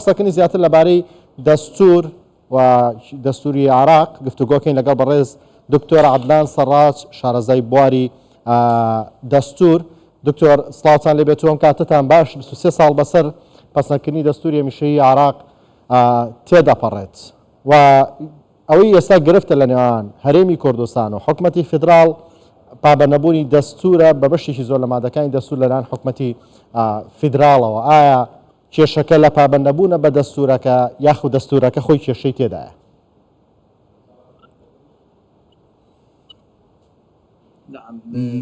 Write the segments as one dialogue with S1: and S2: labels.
S1: قسەکنی زیاتر لەبارەی دەستور و دەستوری عراق گفتوگۆکەین لەگەڵ بەڕێز دکتۆر عبدان سەڕاج شارەزای بواری دەستور دکتۆر سلااوان لێ بێتوەم کاتتان باش 23 ساڵ بەسەر پسنکردنی دەستوری میشەی عراق تێدەپەڕێت و ئەوەی ئێستا گرفتە لە نێوان هەرێمی کوردستان و حکومەتی فدرال پابەنەبوونی دەستورە بە بەشێکی زۆر لە مادەکانی دەستور لەلاان حکومەتی فیدراڵەوە ئایا کێشەکە لە پابەندنەبوونە بە دەستوورەکە یاخود دەستوورەکە خۆی کێشەی تێدایە؟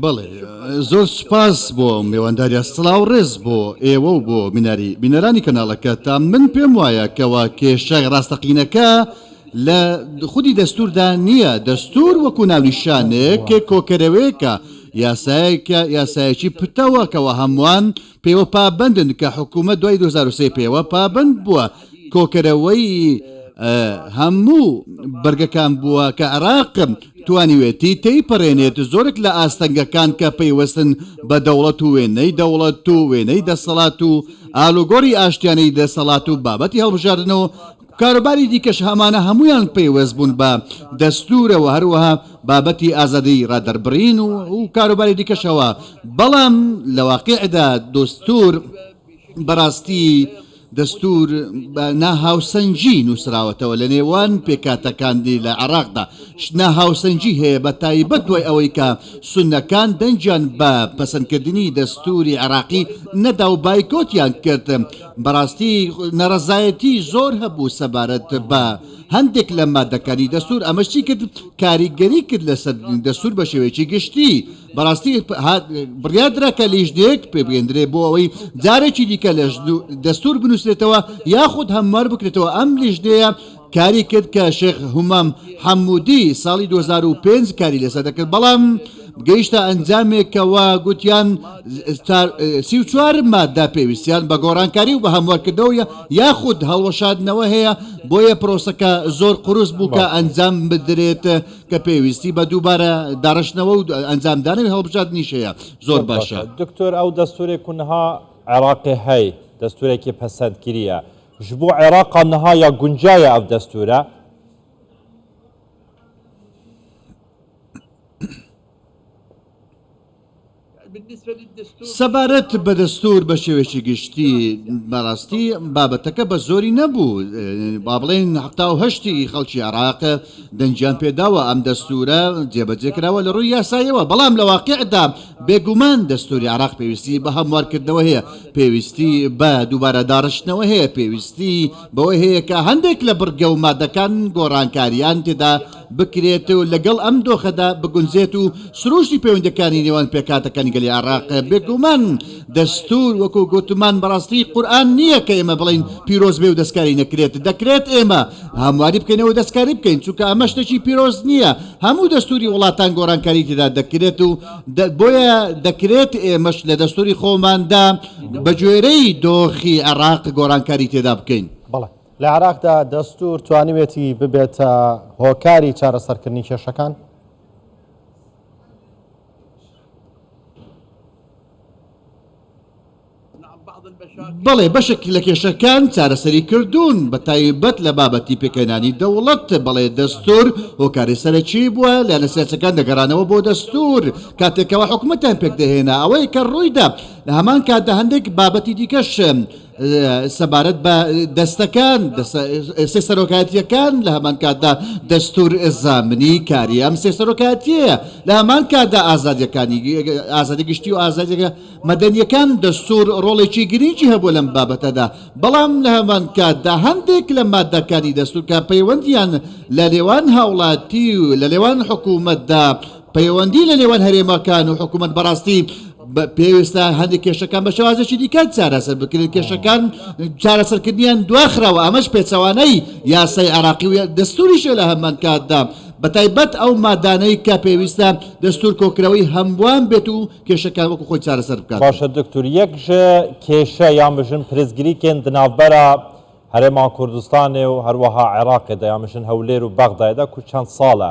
S2: بەڵێ زۆر سوپاس بۆ مێوانداریە سڵاو ڕێز بۆ ئێوە و بۆ میناری بینەرانی کەناڵەکە تا من پێم وایە کەوا کێشای ڕاستەقینەکە لە خودی دەستوردا نییە دەستور وەکو ناونیشانێک کۆکەرەوەیەکە یاسایەکە یاسایەکی پتەوە کەەوە هەمووان پێوە پابەندن کە حکوومەت دوای دوو هەزار و سێ پێوە پابەند بووە کۆکەرەوەی هەموو بەرگەکان بووە کە عراق توانیوێتی تێیپەڕێنێت زۆرێک لە ئاستەنگەکان کە پەیوەستن بە دەوڵەت و وێنەی دەوڵەت و وێنەی دەسەڵات و ئالوگۆری ئاشتیانەی دەسەڵات و بابەتی هەڵبژاردن و کاروباری دیکەش هەمانە هەموویان پەیوەست بوون بە دەستوورە و هەروەها بابەتی ئازادیی ڕادەربڕین و کاروباری دیکەشەوە، بەڵام لە واقیعدا دەستوور بەڕاستی دەستوور بە ناهاوسەنگی نووسراوەتەوە لە نێوان پێکهاتەکانی لە عێراقدا ناهاوسەنگی هەیە بە تایبەت دوای ئەوەی کە سوننەکان دەنگیان بە پەسەندکردنی دەستووری عێراقی نەدا و بایکۆتیان کرد بەڕاستی نەڕەزایەتی زۆر هەبوو سەبارەت بە هەندێک لە مادەکانی دەستور ئەمەش چی کرد کاریگەری کرد لەسەر دەستور بە شێوەیەکی گشتی بەڕاستی بڕیادرا کە لیژنێک پێبێندرێ بۆ ئەوەی جارێکی دیکە لە دەستور بنووسێتەوە یاخود هەموار بکرێتەوە ئەم لیژنەیە کاری کرد کە شێخ هومام حەمودی ساڵی دوو هەزار و پێنج کاری لەسەر دەکرد بەڵام گەیشتە ئەنجامێکەوە گوتیان سی و چوار مادە پێویستیان بە گۆڕانکاری و بە هەموارکردنەوە یاخود هەڵوەشادنەوە هەیە بۆیە پرۆسەکە زۆر قورس بوو کە ئەنجام بدرێت کە پێویستی بە دووبارە داڕشتنەوە و ئەنجامدانەوە هەڵبژاردنیش هەیە زۆر باشە دکتۆر ئەو دەستورێک
S1: کوونها عێراقی هەی دەستورێکی پەسەندگیریە ژ بۆ عێراقا نها یا گونجایە ئەڤ دەستورە؟
S2: سەبارەت بە دەستور بە شێوەیەکی گشتی بەڕاستی بابەتەکە بە زۆری نەبوو با بڵێن هەفتا و هەشتی خەڵکی عێراق دەنگیان پێداوە، ئەم دەستوورە جێبەجێ کراوە لە ڕووی یاساییەوە، بەڵام لە واقیعدا بێگومان دەستووری عێراق پێویستی بە هەموارکردنەوە هەیە، پێویستی بە دووبارە داڕشتنەوە هەیە، پێویستی بەوە هەیە کە هەندێک لە بڕگە و مادەکان گۆڕانکارییان تێدا بکرێت و لەگەڵ ئەم دۆخەدا بگونجێت و سروشتی پەیوەندییەکانی نێوان پێکهاتەکانی گەلی عێراق بێگومان دەستور وەکو گوتمان بەڕاستی قورئان نیە کە ئێمە بڵێین پیرۆز بێ و دەستکاری نەکرێت دەکرێت ئێمە هەمواری بکەین و دەستکاری بکەین چونکە ئەمە شتێکی پیرۆز نیە هەموو دەستوری وڵاتان گۆرانکاری تێدا دەکرێت و بۆیە دەکرێت ئێمەش لە دەستوری خۆماندا بە گوێرەی دۆخی عێراق گۆرانکاری تێدا بکەین. بەڵێ لە عێراقدا
S1: دەستور توانیوێتی ببێتە هۆکاری چارەسەرکردنی کێشەکان؟
S2: بەڵێ بەشێک لە کێشەکان چارەسەری کردوون بە تایبەت لە بابەتی پێکهێنانی دەوڵەت بەڵێ دەستور هۆکاری سەرەکی بووە لە نەسیاسەکان دەگەڕانەوە بۆ دەستور کاتێکەوە حکومتیان پێکدەهێنا ئەوەیە کە ڕوویدا لە هەمان کاتدا هەندێک بابەتی دیکەش سەبارەت بە دەستەکان سێ سەرۆکایەتیەکان لە هەمان کاتدا دەستور زامنی کاری ئەم سێ سەرۆکایەتیەیە لە هەمان کاتدا ئازادیەکانی ئازادی گشتی و ئازادیەکە مەدەنیەکان دەستور ڕۆڵێکی گرنگی هەبوو لەم بابەتەدا بەڵام لە هەمان کاتدا هەندێک لە مادەکانی دەستورکە پەیوەندیان لە لێوان هاوڵاتی و لە لێوان حکوومەتدا پەیوەندی لە نێوان هەرێمەکان و حکوومەت بەڕاستی پێویستە هەندێک کێشەکان بە شێوازێکی دیکە چارەسەر بکرێت کێشەکان چارەسەرکردنیان دواخراوە ئەمەش پێچەوانەی یاسای عراقی و دەستوریشە لە هەمان کاتدا بە تایبەت ئەو مادانەی کە پێویستە دەستور کۆکرەوەی هەمووان بێت و کێشەکان وەکو خۆی چارەسەر بکات باشە دکتور یەک
S1: کێشە یان بژن پرسگریکێن دناوبەرە هەرێما کوردستانێ و هەروەها عێراقێدا یامژن هەولێر و بەغدایدا کو چەند ساڵە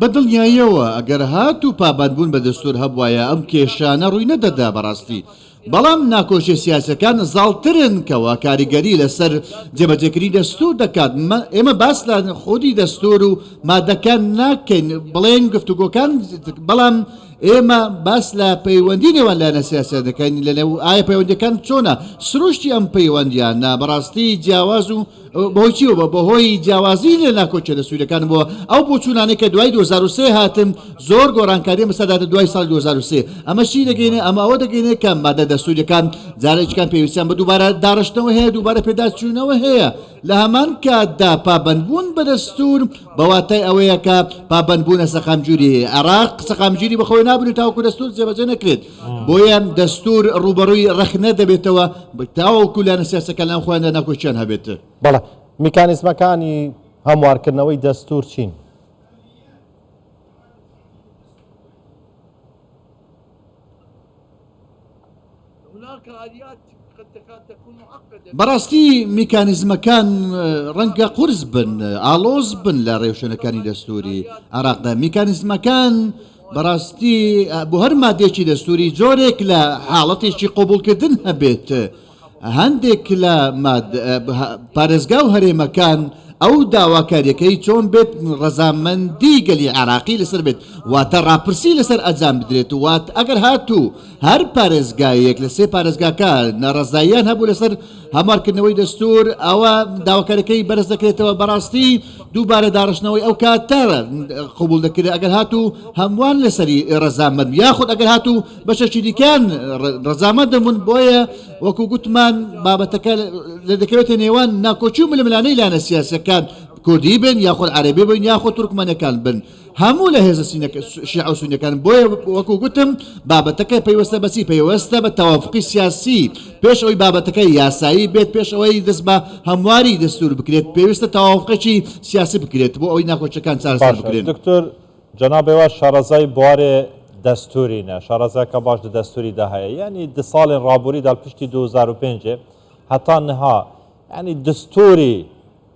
S2: بە دڵنیاییەوە ئەگەر هات و پابەندبوون بە دەستور هەبوایە ئەم کێشانە ڕووی نەدەدا بەڕاستی بەڵام ناکۆشیە سیاسەکان زاڵترن کەوا کاریگەری لەسەر جێبەجێکردنی دەستور دەکات ئێمە باس لە خودی دەستور و مادەکان ناکەین بڵێن گفتوگۆکان بەڵام ئێمە باس لە پەیوەندی نێوان لایەنە سیاسە دەکەین لەنێو ئایا پەیوەندەکان چۆنە سروشتی ئەم پەیوەندیان نا بەڕاستی جیاواز و بەهۆی چیەوە؟ بەهۆی جیاوازی لە ناکۆکیە لە سوورەکانمەوە ئەو بۆچوونانەی کە دوای 2023 هاتن زۆر گۆڕانکاریە بەسەدادا دوای ساڵی 2023 ئەمە شی دەگەینێ ئەمە ئەوە دەگەینێ کە مادە دەستوریەکان جارێکیان پێویستیان بە دووبارە داڕشتنەوە هەیە دووبارە پێداچوونەوە هەیە لە هەمان کاتدا پابەندبوون بە دەستور بەواتای ئەوەیە کە پابەندبوونە سەقامگیری عێراق سەقامگیری بەخۆی نابنێت تاوەکو دەستور جێبەجێ نەکرێت بۆیە دەستور ڕووبەڕووی ڕەخنە دەبێتەوە تاوەکو لایەنە سیاسەکان لەناو خۆیاندا ناکۆکیان هەبێت. بەڵێ،
S1: میکانیزمەکانی هەموارکردنەوەی دەستور چین؟
S2: بەڕاستی میکانیزمەکان ڕەنگە قورس بن ئالۆز بن لە ڕێوشوێنەکانی دەستوری عراقدا میکانیزمەکان بەڕاستی بۆ هەر مادێکی دەستوری جۆرێک لە حاڵەتێکی قوبولکردن هەبێت هەندێک لە پارێزگا و هەرێمەکان ئەو داواکاریەکەی چۆن بێت ڕەزامەندی گەلی عراقی لەسەر بێت واتە ڕاپرسی لەسەر ئەجام بدرێت وات ئەگەر هاتوو هەر پارێزگایەک لە سێ پارێزگاکە ناڕەزاییان هەبوو لەسەر هەموارکردنەوەی دەستور ئەوە داواکاریەکەی بەرز دەکرێتەوە بەڕاستی دووبارە داڕشتنەوەی ئەو کاتە قوبول دەکرێت ئەگەر هاتوو هەمووان لەسەری ڕەزامەند یاخود ئەگەر هاتوو بەشەکی دیکان ڕەزامەند دەبوون بۆیە وەکو گوتمان بابەتەکە لە دەکەوێتە نێوان ناکۆچی و ململانەی لایەنە سیاسەکان کوردی بن یاخود عەربی بن یاخود تورکمەنەکان بن هەموو لە هێزە شیعە و سونیەکان بۆیە وەکو گوتم بابەتەکە پەیوەستە بەچی پەیوەستە بە تەوافقی سیاسی پێش ئەوی بابەتەکە یاسایی بێت پێش ئەوەی دەست بە هەمواری دەستور بکرێت پێویستە تەوافقێکی سیاسی بکرێت بۆ ئەوی ناخۆچەکان چارەسەر بکرێن دکتۆر
S3: جەنابێ وا شارەزای بوارێ دەستورینە شارەزاکە باش دە دەستوری دا هەیە یعنی دە ساڵێن ڕابووری دال پشتی 2005 هەتا نها ینی دەستوری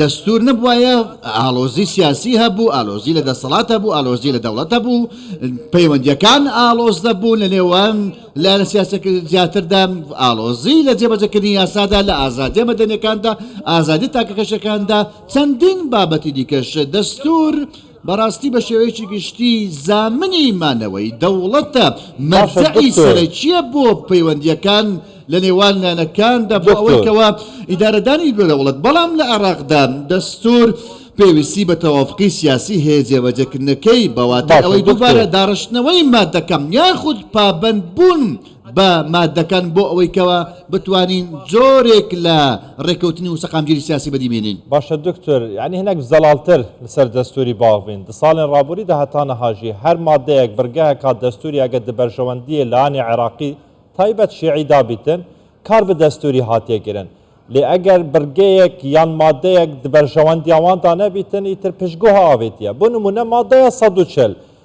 S2: دەستوور نەبوایە ئاڵۆزی سیاسی هەبوو ئالۆزی لە دەسەڵات هەبوو ئالۆزی لە دەوڵەت هەبوو پەیوەندیەکان ئاڵۆز دەبوو لە نێوان لە لە سیاسەک زیاتردا ئاڵۆزی لە جێبەجەکردنی یاسادا لە ئازادی مەدەنەکاندا ئازادی تاکەکەشەکاندا چەندین بابەتی دیکەش دەستور بەڕاستی بە شێوەیەکی گشتی زامنی مانەوەی دەوڵەتە مەرجەعی سەرەکییە بۆ پەیوەندییەکان لە نێوان لایەنەکاندا بۆ ئەوەی کەوا ئیدارەدانی بێ دەوڵەت بەڵام لە عێڕاقدا دەستور پێویستی بە تەوافقی سیاسی هەیە جێبەجێکردنەکەی بەواتای ئەوەی دووبارە داڕشتنەوەی مادەکەم یاخود پابەند بوون بە مادەکان بۆ ئەوەی کەوا بتوانین جۆرێک لە ڕێکەوتنی وسەقامگیری سیاسی بەدی بینین. باشە دکتر
S3: یانی هەنێک زەڵالتر لسەر دەستوری باوخ بین دساڵێن ڕابوری دە هەتانە هاژی هەر مادەیەک بڕگەهە کا دەستوری ئەگە دبەرژەوەندیێ لانی عێراقی تایبەت شێعی دابیتن کار بە دەستوری هاتیە گرن لێ ئەگەر بڕگەیەک یان مادەیەک دبەرژەوەندیاواندا نەبیتن ئیتر پشگوه ئاوێتیە بۆ نمونە مادەیە سەد و چل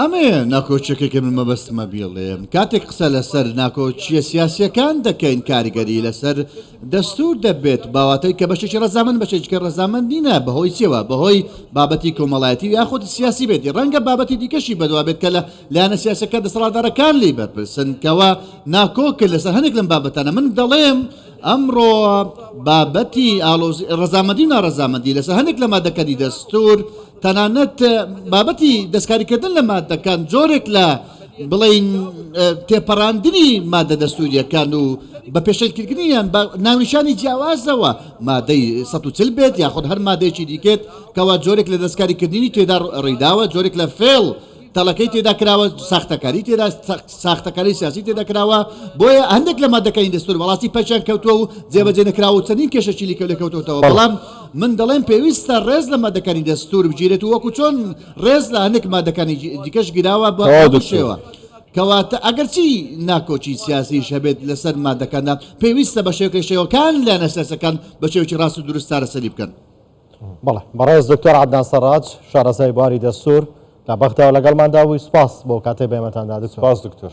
S2: ئەمەیە ناکۆچیەکەی کە من مەبەستمە بیڵێم کاتێک قسە لەسەر ناکۆچیە سیاسیەکان دەکەین کاریگەری لەسەر دەستور دەبێت باواتەی کە بەشێکی ڕزامن بەشێکە ڕزامن نینە بەهۆی چێوە بەهۆی بابەتی کۆمەڵایەتی یاخود سیاسی بێتی ڕەنگە بابەتی دیکەشی بەدوا بێت کە لە لایەنە سیاسەکە دەسەڵاتدارەکان لی بەرپرسن کەەوە ناکۆکە لەسەر هەنێک لەم بابەتانە من دەڵێم ئەمڕۆ بابەتی ئالۆزی ڕزامەدی و ناڕزامەدی لەسەر هەنێک لە مادەکانی دەستور تەنانەت بابەتی دەستکاریکردن لە ماددەکان جۆرێک لە بڵین تێپەڕاندنی مادە دەستوریەکان و بە پێشلکردنیان بە ناونیشانی جیاوازەوە مادەی 140 بێت یاخود هەر مادەیەکی دیکێت کەوا جۆرێک لە دەستکاریکردنی تێدا ڕێداوە جۆرێک لە فێڵ تەڵەکەی تێدا کراوە، ساختەکاری تێدا ساختەکاری سیاسی تێدا کراوە، بۆیە هەندێک لە مادەکانی دەستور بەڕاستی پەکیان کەوتووە و جێبەجێ نەکراوە و چەندین کێشەشی لیکە لێکەوتۆتەوە، بەڵام من دەڵێم پێویستە ڕێز لە مادەکانی دەستور بگیرێت و وەکو چۆن ڕێز لە هەندێک مادەکانی دیکەش گیراوە بە هەمان شێوە. کەواتە ئەگەرچی ناکۆکی سیاسیش هەبێت لەسەر مادەکاندا، پێویستە بەشێوەک لە شێوەکان لایەنە سیاسیەکان بە شێوەکی ڕاست و دروست چارەسەری بکەن. بەڵێ
S1: بەڕێز دکتۆر عەدنان سەڕاج شارەزای بواری دەستور لە
S3: بەغداوە
S1: لەگەڵماندا بووی سپاس بۆ کاتەی
S3: بەێمەتان
S1: دا دکتۆر.